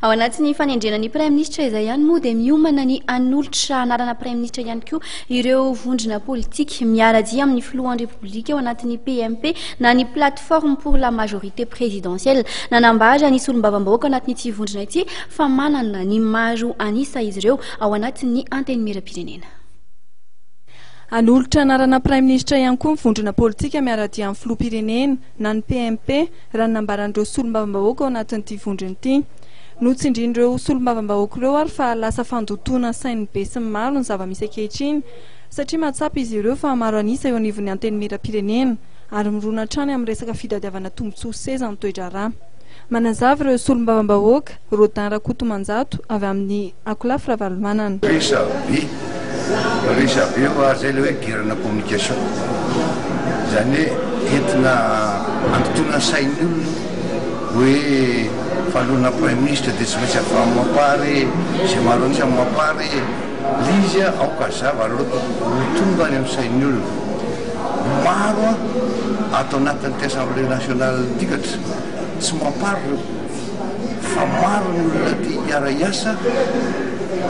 Ao anatin'ny fanendrena ny Praiminisitra izay ihany moa dia miomana ny hanolotra anarana Praiminisitra ihany koa ireo vondrona politika miara-dia amin'ny Filohan'ny Repoblika ao anatin'ny PMP na ny Plateforme pour la Majorité Présidentielle. Nanambara ny solombavambahoaka ao anatin'ity vondrona ity fa manana ny maro an'isa izy ireo ao anatin'ny Antenimierampirenena. Hanolotra anarana Praiminisitra ihany koa ny vondrona politika miara-dia amin'ny Filoham-pirenena. na ny PMP, raha ny nambaran'ireo solombavambahoaka ao anatin'ity vondrona ity. Notsindrin'ireo solombavambahoaka ireo ary fa lasa fandotoana sain'ny besinimaro ny zava-misy ankehitriny satria mahatsapa izy ireo fa maro an'isa eo anivon'ny Antenimierampirenena ary mirona hatrany amin'ny resaka fitadiavana tombontsoa seza ny toe-draharaha. Manazava ireo solombavambahoaka Rodin Rakotomanjato, avy amin'ny Akolafy Ravalomanana. Resabe, resabe ho azy izay ilay hoe guerre na communication. Izany hoe entina handotoana ny sain'ny olona hoe fanoloana praiminisitra dia tsy maintsy avy mampary e, izay maro an'isa no mampary e. Ilay izy aoka hazava aloha ho tonga any amin'ny sain'ny olona. Maro ato anatin'ity Assemblée nationale ity ka tsy mampary ireo. fa maro ny olona te hiara-hiasa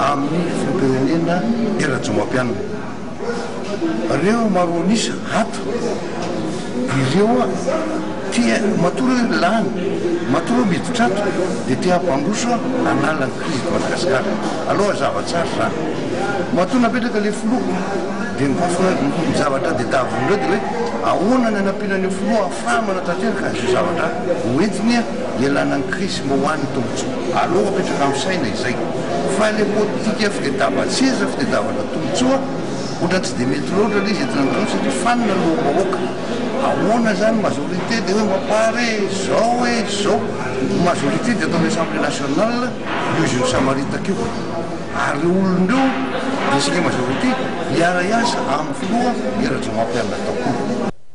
amin'ny filoham-pirenena Hery Rajaomapianina. Reo maro an'isa ato ireo te matoa reo lany, matoa reo miditra ato dia te hampandroso hanala ny krizy eto Madagasikara. Aleo hazava tsara izany. Matoa napetraka ilay filoha dia ny zavatra tadiavin'ireo dia hoe ahoana ny hanampiana an'io filoha Fa manatanteraka an'izay zavatra hoentiny hialana ny krizy sy mba ho an'ny tombontsoa. Aleo apetraka amin'ny saina izay fa ilay politika fitadiavan-tseza, fitadiavana tombontsoa ohatran'ny tsy dia mety loatra ilay izy eto Antananarivo satria fanina ny loham-bahoaka. Ahoana izany majorité dia hoe mapar e, izao e, izao. Ny majorité dia ataon'ny Assemblée nationale io izy io misamaritaka io ary ireo olona ireo dia isika majorité hiara-hiasa amin'ny filoha Hery Rajaonarimampianina daholo.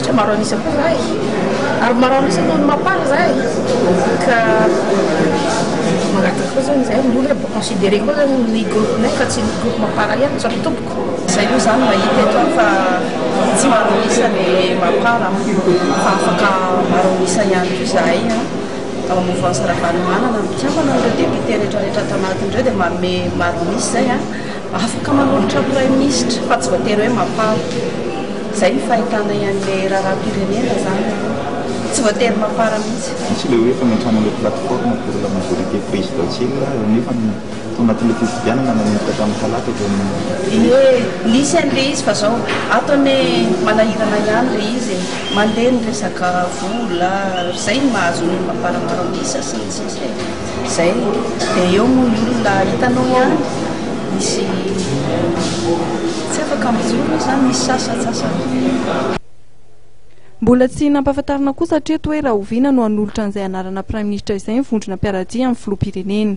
Tsy maro an'isa koa za e! ary maro an'isa noho ny mapar za e! ka mangataka koa zany zay ny olona mba considerer koa zany ny groupe-nay fa tsy ny groupe mapar ihany tsy ry tompoko. Zay moa zany mahita eto aho fa tsy maro an'isa ny mapar an! fa afaka maro an'isa ihany koa zahay an! ao amin'ny mouvance Ravalomanana, ny mpikambana ireo députés retraretra ato anatiny ireo dia manome maro an'isa zay an! Afaka manolotra praiminisitra fa tsy voatery hoe mapar. Izay ny fahitanay an'ilay raharaham-pirenena izany. Tsy voatery mapar mihitsy. Misy ilay hoe fanentrana ilay plateforme pour la majorité présidentielle eo nefa ny tao anatin'ilay fifidianana nanomboka tamin'ny talata dia ny. Ie, nisy an'ilay izy fa izao ato anie manahirana ihany ilay izy e. Mandeha ny resaka vola, izay no mahazo ny mampara-taon-disa sy ny sisa e. Izay dia eo moa ny olona hitanao ihany, misy tsy afaka mijoro moa izany, misy sasantsasany. Mbola tsy nampahafantarina kosa hatreto hoe rahoviana no hanolotra an'izay anarana Praiminisitra izay ny vondrona mpiara-dia amin'ny Filoham-pirenena.